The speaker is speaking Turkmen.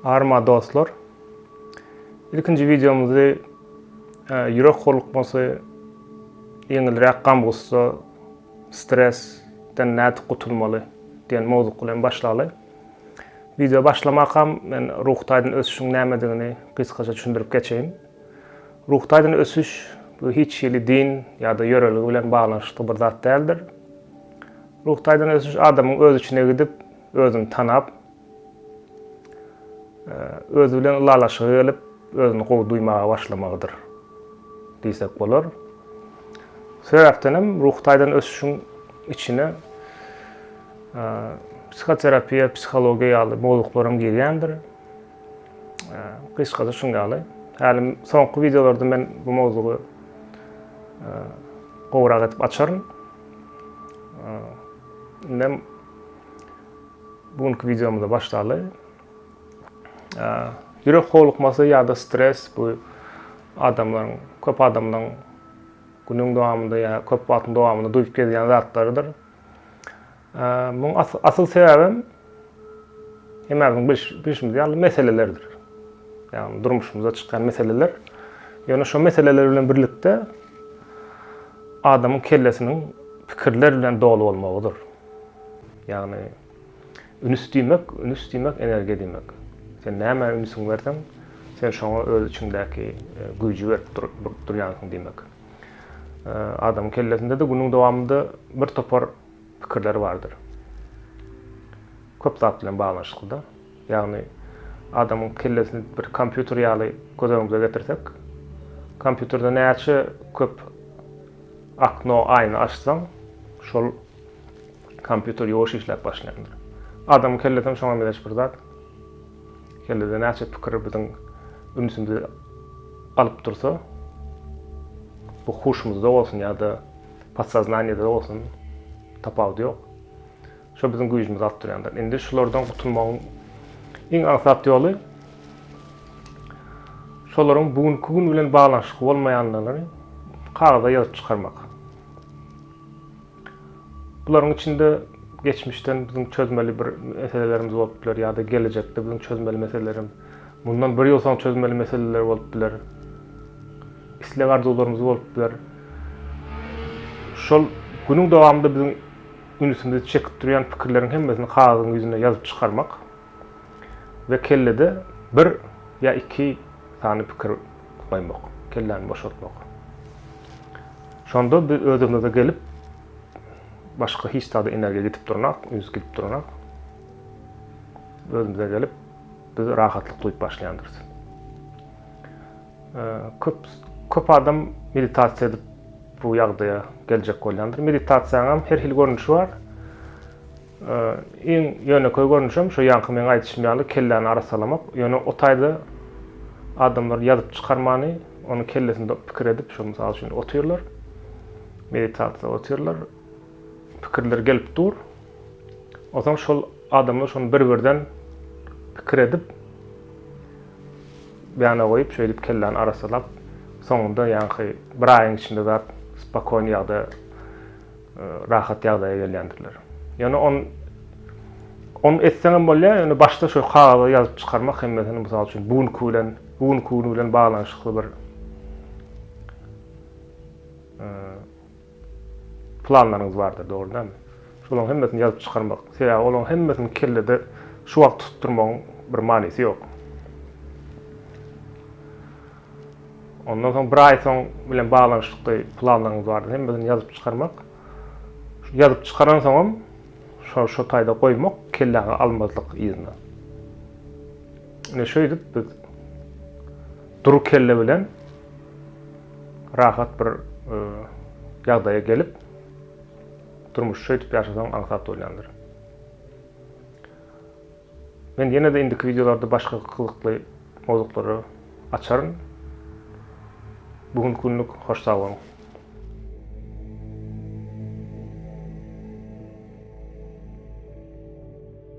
Arma dostlar. İlkinci videomuzu e, yürek horlukması, ýeňilräk gam gussa, stresden nädip gutulmaly diýen mowzuk bilen başlaly. Video başlamakam men ruh taýdan ösüşiň nämedigini gysgaça düşündirip geçeýin. Ruhy taýdan ösüş, bu hiç hili din ýa-da ýörelge bilen baglanyşykly bir zat däldir. Ruhy taýdan ösüş adamyň öz içine gidip, özüni tanap, özi bilen ylalaşyga gelip, özüni gowy duýmaga başlamagydyr diýsek bolar. Sebäpden hem ruhy taýdan ösüşiň içine psihoterapiýa, psihologiýa ýaly mowzuklaram girýändir. Gysgaça şuň ýaly. Häli soňky wideolarda men bu mowzugy gowrak edip açaryn. Indi bugünkü videomyza başlaly. Ýürek howlukmasy ýa-da stres bu adamlaryň, köp adamlaryň günüň dowamynda ýa köp wagtyň dowamynda duýup gezýän zatlarydyr. Muň asyl sebäbem hemmämiziň bilşimiz ýaly meselelerdir. Ýagny durmuşymyzda çykýan meseleler. Ýöne şo meseleler bilen birlikde adamyň kellesiniň pikirler bilen doly bolmagydyr. Ýagny ünüs diýmek, ünüs diýmek energiýa diýmek. Sen nämä ünsiňi berseň, sen şoňa öz içiňdäki güýji berip durýansyň diýmek. Adamyň kellesinde-de günüň dowamynda birtopar pikirler bardyr. Köp zat bilen baglanyşyklyda. Ýagny adamyň kellesini bir kompýuter ýaly göz öňümize getirsek, kompýuterde näçe köp akno, aýna açsaň, şol kompýuter ýuwaş işläp başlaýandyr. Adamyň kellesi hem şoňa meňzeş bir zat. Kellede näçe pikir biziň ünsümizi alyp dursa, bu huşumyzda bolsun ýa-da Podsoznaniýada bolsun tapawudy ýok. Şo biziň güýjümizi alyp durýan zat. Indi şulardan gutulmagyň iň aňsat ýoly şolaryň bu günki gün bilen baglanyşykly bolmaýanlygyny kagyza ýazyp çykarmak. Bularyň içinde geçmişden biziň çözmeli bir meselelerimiz bolup biler ýa-da gelejekde biziň çözmeli meselelerimiz Mundan bir ýyl soň çözmeli meseleler bolup biler. Isleg-arzuwlarymyz bolup biler. Şol günüň dowamynda biziň ünsümizi çekip durýan pikirleriň hemmesini kagyzyň ýüzüne ýazyp çykarmak we kellede bir ýa iki sany pikir goýmak, kelläni boşatmak. Şonda biz özümize gelip, başga hiç zada energiýa gidip duranok, üns gidip duranok. Özümize gelip, biz rahatlyk duýup başlaýandyrys. Köp köp adam meditasiýa edip bu ýagdaýa geljek bolýandyr. Meditasiýanyň hem her hili görnüşi bar. Iň ýönekeý görnüşi hem şu ýaňky meň aýdyşym ýaly kelläni arassalamak. Ýöne o taýda adamlar ýazyp çykarmany, ony kellesinde pikir edip, şu mysal üçin otyrlar. Meditasiýa otyrlar. Pikirler gelip dur. Onsoň şol adamlar şony bir-birden pikir edip, ýana goýup, şeýdip kelläni arassalap, soňunda ýaňky bir aýyň içinde zat spokon ýagda, rahat ýagdaýa gelýändirler. Ýöne on on etseňem bolýar, ýöne başda şo kagyza ýazyp çykarmak hemmesini mysal üçin bu günki bilen, bu günki gün bilen baglanyşykly bir Planlaryňyz bardyr, dogry dälmi? Şolaryň hemmesini ýazyp çykarmak, sebäbi olaryň hemmesini kellede şu wagt tutup durmagyň bir manysy ýok. Ondan soň bir aý soň bilen baglanyşykly planlaryňyz bardyr, hemmesini ýazyp çykarmak. Şu ýazyp çykaransoňam şo şo taýda goýmak, kelläňe almazlyk yzyna. Ine şeýdip biz dury kelle bilen Rahat bir ýagdaýa gelip, durmuş şeýdip ýaşasaň aňsat bolýandyr. Men ýene-de indiki wideolarda başga gyzykly mowzuklary açaryn. Bu günki günlük hoş sag boluň.